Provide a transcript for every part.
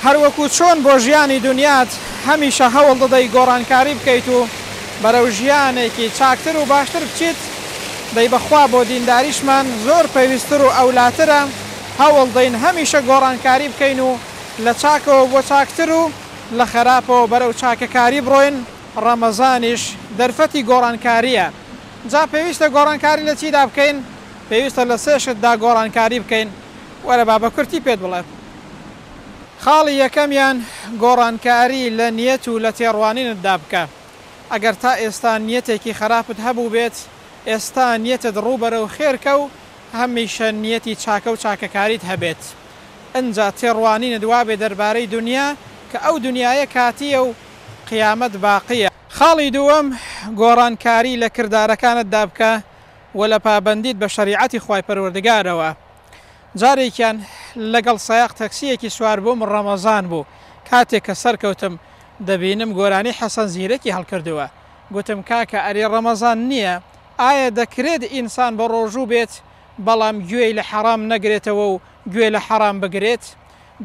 هەروەکو چۆن بۆ ژیانی دونیات هەمیشە هەوڵ دەدەی گۆڕانکاری بکەیت و بەرەو ژیانێکی چاکتر و باشتر بچیت، دەی بەخوا بۆ دینداریشمان زۆر پێویستتر و ئەولاترە، هەوڵ دەین هەمیشە گۆڕانکاری بکەین و لە چاکەوە بۆ چاکتر و لە خەراپەوە بەرەو چاکەکاری بڕۆین، ڕەمەزانیش دەرفەتی گۆڕانکارییە، جا پێویستە گۆڕانکاری لە چیدا بکەین؟ پێویستە لە سێ شتدا گۆڕانکاری بکەین. وەرە با بەکورتی پێت بڵێم. خاڵی یەکەمیان گۆڕانکاری لە نیەت و لە تێڕوانینتدا بکە. ئەگەر تا ئێستا نیەتێکی خەراپت هەبووبێت، ئێستا نیەتت ڕوو بەرەو خێرکە و هەمیشە نیەتی چاکە و چاکەکاریت هەبێت. ئنجا تێڕوانینت وابێ دەربارەی دونیا کە ئەو دونیایە کاتییە و قیامەت باقییە. خاڵی دووەم، گۆڕانکاری لە کردارەکانتدا بکە و لە پابەندیت بە شەریعەتی خوای پەروەردگارەوە. جارێکیان لەگەڵ سایەق تەکسییەکی سواربووم ڕەمەزان بوو کاتێک کە سەرکەوتم دەبینم گۆرانی حەسەن زیرەکی هەڵکردووە گوتم کاکە ئەرێ ڕەمەزان نییە ئایا دەکرێت ئینسان بەڕۆژوو بێت بەڵام گوێی لە حەڕام نەگرێتەوە و گوێ لە حەڕام بگرێت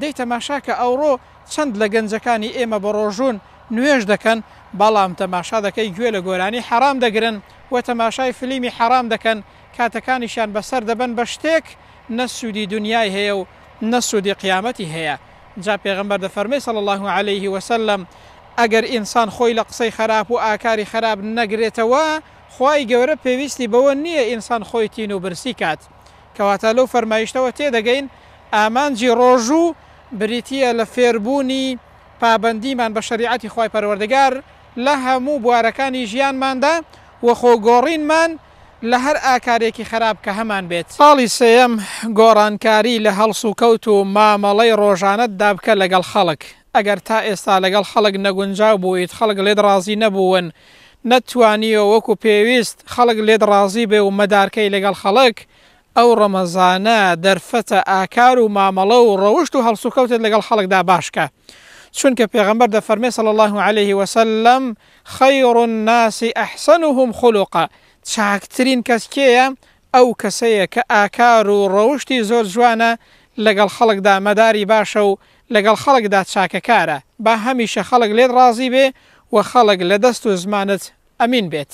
دەی تەماشاکە ئەوڕۆ چەند لە گەنجەکانی ئێمە بەڕۆژوون نوێژ دەکەن بەڵام تەماشا دەکەی گوێ لە گۆرانی حەڕام دەگرن و تەماشای فلیمی حەڕام دەکەن کاتەکانیشیان بەسەر دەبەن بە شتێک نە سوودی دونیای هەیە و نە سوودی قیامەتی هەیە جا پێغەمبەر دەفەرمێ صلی اللە علیه و سلم ئەگەر ئینسان خۆی لە قسەی خەراپ و ئاکاری خەراپ نەگرێتەوە خوای گەورە پێویستی بەوە نییە ئینسان خۆی تین و برسی کات کەواتە لەو فەرمایشتەوە تێدەگەین ئامانجی ڕۆژوو بریتییە لە فێربوونی پابەندیمان بە شەریعەتی خوای پەروەردگار لە هەموو بوارەکانی ژیانماندا و خۆ گۆڕینمان لە هەر ئاکارێکی خەراپ کە هەمان بێت. خاڵی سێیەم، گۆڕانکاری لە هەڵسوکەوت و مامەڵەی ڕۆژانەت دا بکە لەگەڵ خەڵک. ئەگەر تا ئێستا لەگەڵ خەڵک نەگونجاو بوویت، خەڵک لێت ڕازی نەبوون، نەتتوانیوە وەکو پێویست خەڵک لێت ڕازی بێ و مەدارکەی لەگەڵ خەڵک، ئەو ڕەمەزانە دەرفەتە ئاکار و مامەڵە و ڕەوشت و هەڵسوکەوتت لەگەڵ خەڵکدا باش کە، چونکە پێغەمبەر دەفەرمێ صلی اللە علیە وسلم، خیر الناس احسنهم خلقا، چاکترین کەس کێیە؟ ئەو کەسەیە کە ئاکار و ڕەوشتی زۆر جوانە، لەگەڵ خەڵکدا مەداری باشە و لەگەڵ خەڵکدا چاکەکارە، با هەمیشە خەڵک لێت ڕازی بێ و خەڵک لە دەست و زمانت ئەمین بێت.